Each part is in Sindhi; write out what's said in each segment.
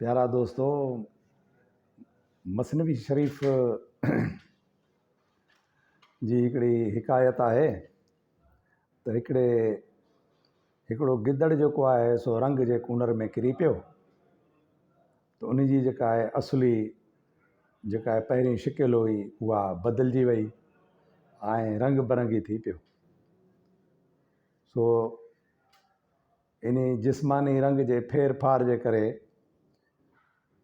پيارا دوستو مثنوي شريف جي هڪڙي حڪايت آهي ته هڪڙي هڪڙو گدڙ جيڪو آهي سو رنگ جي ڪونر ۾ ڪري پيو ته ان جي جيڪا آهي اصلي جيڪا آهي پهرين شڪل هئي اها بدلجي وئي ۽ رنگ برنگي ٿي پيو سو انهي جسماني رنگ جي ڦير ڦار جي ڪري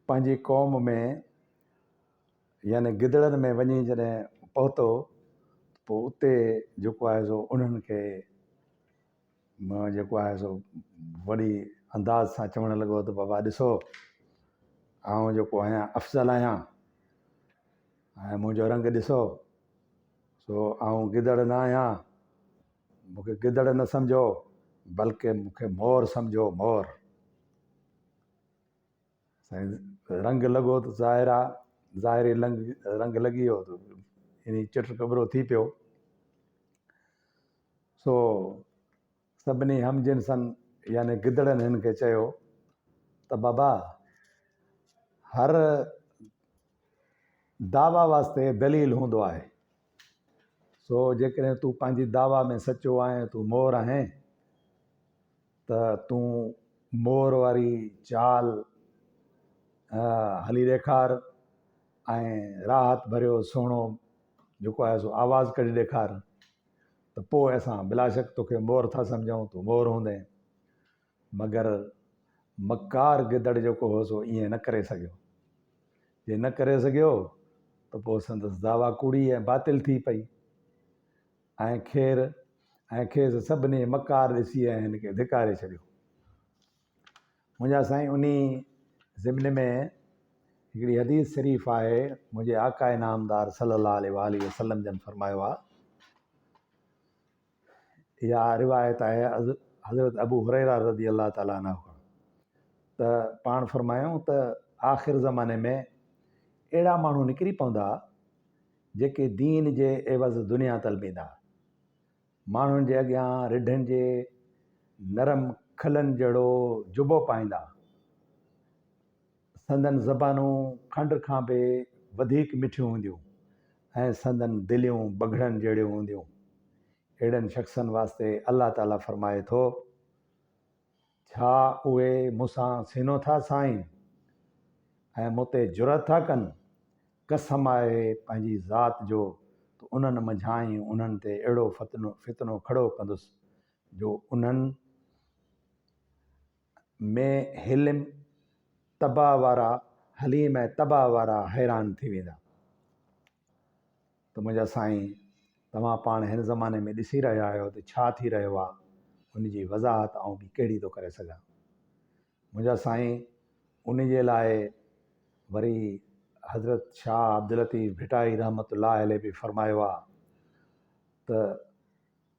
پنهنجي قوم ۾ يعني گدڙن ۾ وڃي جڏهن پهتو پوء اتي جيڪو آهي سو انهن کي جيڪو آهي سو وڏي انداز سان چوڻ لڳو ته بابا ڏسو آئون جيڪو آهيان افضل آهيان ۽ منهنجو رنگ ڏسو سو آئون گدڙ نه آهيان مون کي گدڙ نه سمجهو، بلڪه مون کي مور سمجهو، مور. سائين رنگ لڳو ته ظاهر آ ظاهري رنگ لڳي ويو ته يعني چٽ ڪٻرو ٿي پيو سو سڀني هم جنسن يعني گدڙن هن کي چيو ته بابا هر دعويٰ واسطي دليل هوندو آهي سو جيڪڏهن تون پنهنجي دعويٰ ۾ سچو آهين تون مور آهين ته تون مور واري چال هلي ڏيکار ۽ راحت ڀريو سهڻو جيڪو آهي سو آواز ڪڍي ڏيکار ته پوء اسان بلاشڪ تون کي مور ٿا سمجهون تون مور هوندين مگر مڪار گدڙ جيڪو هو سو ائين نه ڪري سگهيو. جي نه ڪري سگهيو ته پوء سندس دعويٰ ڪوڙي ۽ باطل ٿي پئي ۽ کير ۽ کيس سڀني مڪار ڏسي ۽ هن کي ڌڪاري ڇڏيو. منهنجا سائين انهي ضمن ۾ هڪڙي حديث شريف آهي منهنجي آقا نامدار صلي الله عليه واٰله وسلم جن فرمايو آهي. اها روايت آهي حضرت ابو هريره رضي الله تعالٰي عنه کان ته پاڻ فرمايائون ته آخر زماني ۾ اهڙا ماڻهو نڪري پوندا جيڪي دين جي عيوض دنيا طلبيندا ماڻهن جي اڳيان رڍن جي نرم کلن جهڙو جبو پائيندا سندن زبانون کنڊ کان به وڌيڪ مٺيون هونديون ۽ سندن دليون بگهڙن جهڙيون هونديون. اهڙن شخصن واسطي الله تعاليٰ فرمائي ٿو، ڇا اهي مون سان سينو ٿا سائين ۽ مون تي جرئت ٿا ڪن؟ قسم آهي پنهنجي ذات جو ته انهن منجهانئن انهن تي اهڙو فتنو فتنو کڙو ڪندس جو انهن ۾ حلم طبع وارا حليم ۽ طبع وارا حيران ٿي ويندا ته منهنجا سائين توهان پاڻ هن زماني ۾ ڏسي رهيا آهيو ته ڇا ٿي رهيو آهي ان جي وضاحت آئون ٻي ڪهڙي ٿو ڪري سگهان منهنجا سائين ان جي لاء وري حضرت شاهه عبداللطيف ڀٽائي رحمت الله عليه به فرمايو آهي ته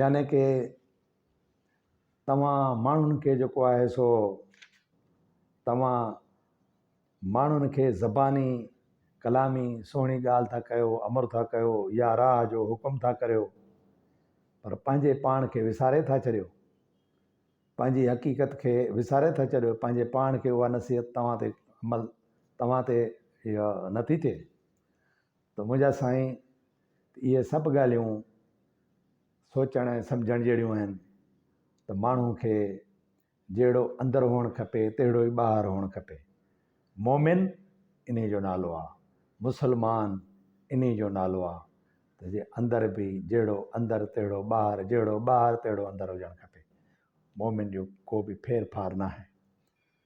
يعني ڪي توهان ماڻهن کي جيڪو آهي سو توهان ماڻهن کي زباني ڪلامي سهڻي ڳالهه ٿا ڪيو امر ٿا ڪيو يا راء جو حڪم ٿا ڪريو پر پنهنجي پاڻ کي وساري ٿا ڇڏيو پنهنجي حقيقت کي وساري ٿا ڇڏيو پنهنجي پاڻ کي اها نصيحت توهان تي عمل توهان تي نٿي ٿئي ته منهنجا سائين ته اهي سڀ ڳالهيون سوچڻ ۽ سمجهڻ جهڙيون آهن ته ماڻهو کي جهڙو اندر هئڻ کپي تهڙو ئي ٻاهر هئڻ کپي. مومن انهي جو نالو آ. مسلمان انهي جو نالو آ ته جي اندر به جهڙو اندر تهڙو ٻاهر جهڙو ٻاهر تهڙو اندر هجڻ کپي. مومن جو ڪو به ڦير ڦار ناهي.